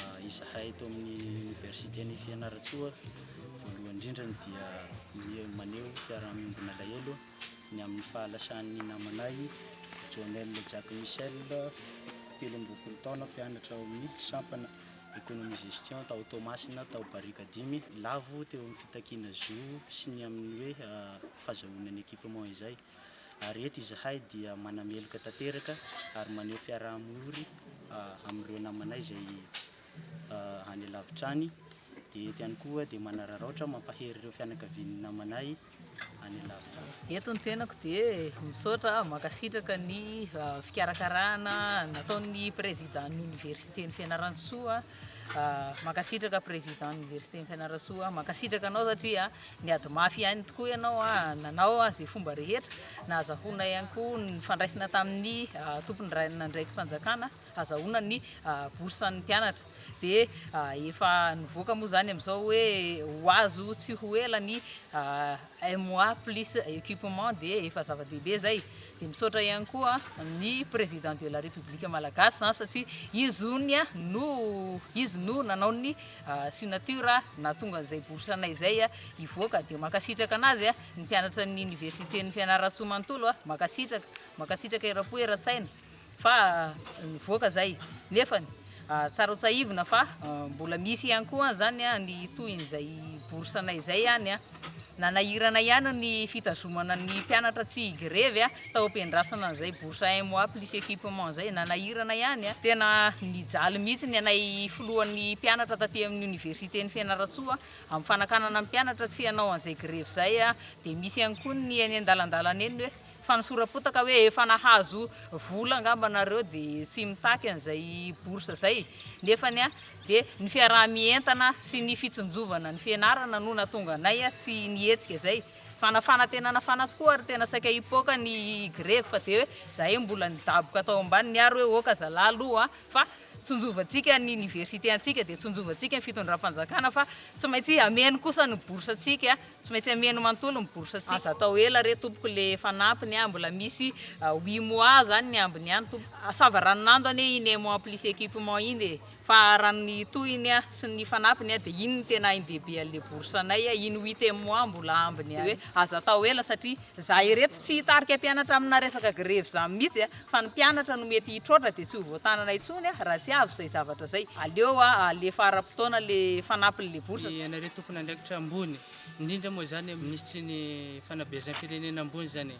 Izahay eto amin'ny Oniversiten'i Fianarantsoa, voalohany indrindra dia miha- maneho fiaraha-miombona alahelo ny amin'ny fahalasan'ny namanay Jonel Jack Michel, telo amby roapolo taona, mpianatra ao amin'ny sampana Economie-Gestion tao Toamasina, tao Barika dimy. Lavo teo amin'ny fitakiana zo sy ny amin'ny hoe fahazahoana ny equipement izay. ary eto izahay dia manameloka tanteraka ary maneho fiaraha-miory amin'ireo namanay izay any lavitra any, dia eto ihany koa dia manararaotra mampahery ireo fianakavian'ny namanay any lavitra any. Eto ny tenako dia misaotra, mankasitraka ny fikarakarana nataon'ny Président ny Université-n'i Fianarantsoa. Mankasitraka président université ny Fianarantsoa mankasitraka anao satria niady mafy ihany tokoa ianao nanao izay fomba rehetra nahazahoana ihany koa nifandraisina tamin'ny tompony rainandraiki-panjakana hazahoana ny bourse an'ny mpianatra dia efa nivoaka moa izany amin'izao hoe ho azo tsy ho ela ny un mois plus equipement dia efa zava-dehibe zay dia misaotra ihany koa ny président de la république malagasy an satria izy ony an no izy no nanao ny signature nahatonga an'izay bourse anay zay an hivoaka dia mankasitraka anazy an ny mpianatra ny université ny fianarantsoa manontolo an mankasitraka mankasitraka erapo eratsaina fa nivoaka izay nefany tsara ho tsahivina fa mbola misy ihany koa izany ny tohin'izay bourse anay izay ihany a nanahirana ihany ny fitazomana ny mpianatra tsy higrevy a tao am-piandrasana an'izay bourse un mois plus équipement izay nanahirana ihany a tena nijaly mihitsy ny anay filohan'ny mpianatra taty amin'ny oniversiten'i Fianarantsoa amin'ny fanakanana ny mpianatra tsy hanao an'izay grevy izay a dia misy ihany koa ny eny an-dalandalana eny hoe Fa ny sora-potaka hoe efa nahazo vola angamba nareo de tsy mitaky an'izay bourse zay nefany de ny fiaraha-mientana sy ny fitsinjovana ny fianarana no natonga anay tsy nihetsika zay fa na fanatenana fana tokoa ary tena saika hipoaka ny grevy fa de hoe zahay mbola nidaboka tao ambaniny ary hoe ok zalah aloha fa tsinjovantsika ny université antsika de tsinjovantsika ny fitondram-panjakana fa tsy maintsy ameno kosa ny bourse antsika Tsy maintsy ameno manontolo ny bourse tsika. Aza atao ela re tompoko le fanampiny a, mbola misy huit mois zany ny ambiny ihany tompoko. Sava ranonando anie iny emo en plus equipement iny e, fa raha ny tohiny a sy ny fanampiny a dia iny no tena ain-dehibe an'le bourse anay a, iny huitième mois mbola ambiny ihany. Dia hoe aza atao ela satria Za ireto tsy hitarika mpianatra amina resaka grevy zany mihitsy a! Fa ny mpianatra no mety hitroatra dia tsy ho voatanana intsony a! Raha tsy avy izay zavatra izay. Aleo a alefa ara-potoana le fanampiny le bourse. Ianareo tompon'andraikitra ambony, indrindra moa izany ny minisitry ny fanabeazam-pirenena ambony izany e!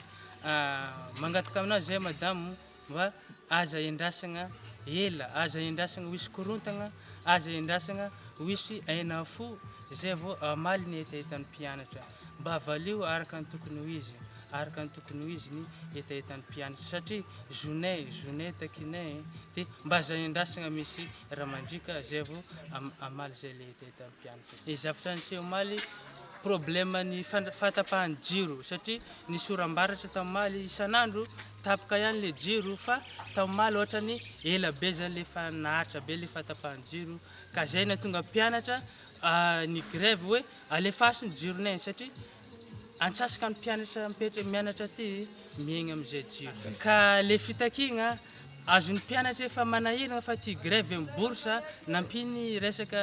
Mangataka aminao izay Madamo. Mba aza endrasagna ela, aza endrasagna ho hisy korontagna, aza endrasagna ho hisy aina fo izay vao hamaly ny hetahetan'ny mpianatra. Mba valio araka ny tokony ho izy, araka ny tokony ho izy ny hetahetan'ny mpianatra satria zonay, zonay takinay e! Dia mba aza endrasagna misy raha mandriaka izay vao hamaly izay ilay hetahetan'ny mpianatra. Ny zavatra niseho omaly, problème ny fatapahan'ny jiro satria ny sorambaratra tamy omaly isan'andro Tapaka ihany le jiro fa tao omaly ohatrany ela be zany le fa naharitra be le fahatapahan'ny jiro ka zay natonga mpianatra ny grève hoe alefaso ny jironay satria antsasaka ny mpianatra mipetra mianatra aty miaigna amin'izay jiro ka le fitakiagna azon'ny mpianatra efa manahiragna fa ty grève miborsa nampy ny resaka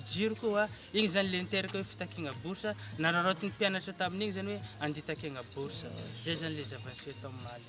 jiro koa Iny izany ilay niteraka hoe fitakiana bourse, nararaotin'ny mpianatra tamin'iny izany hoe handitakena bourse. Izay izany ilay zava-niseho tao omaly.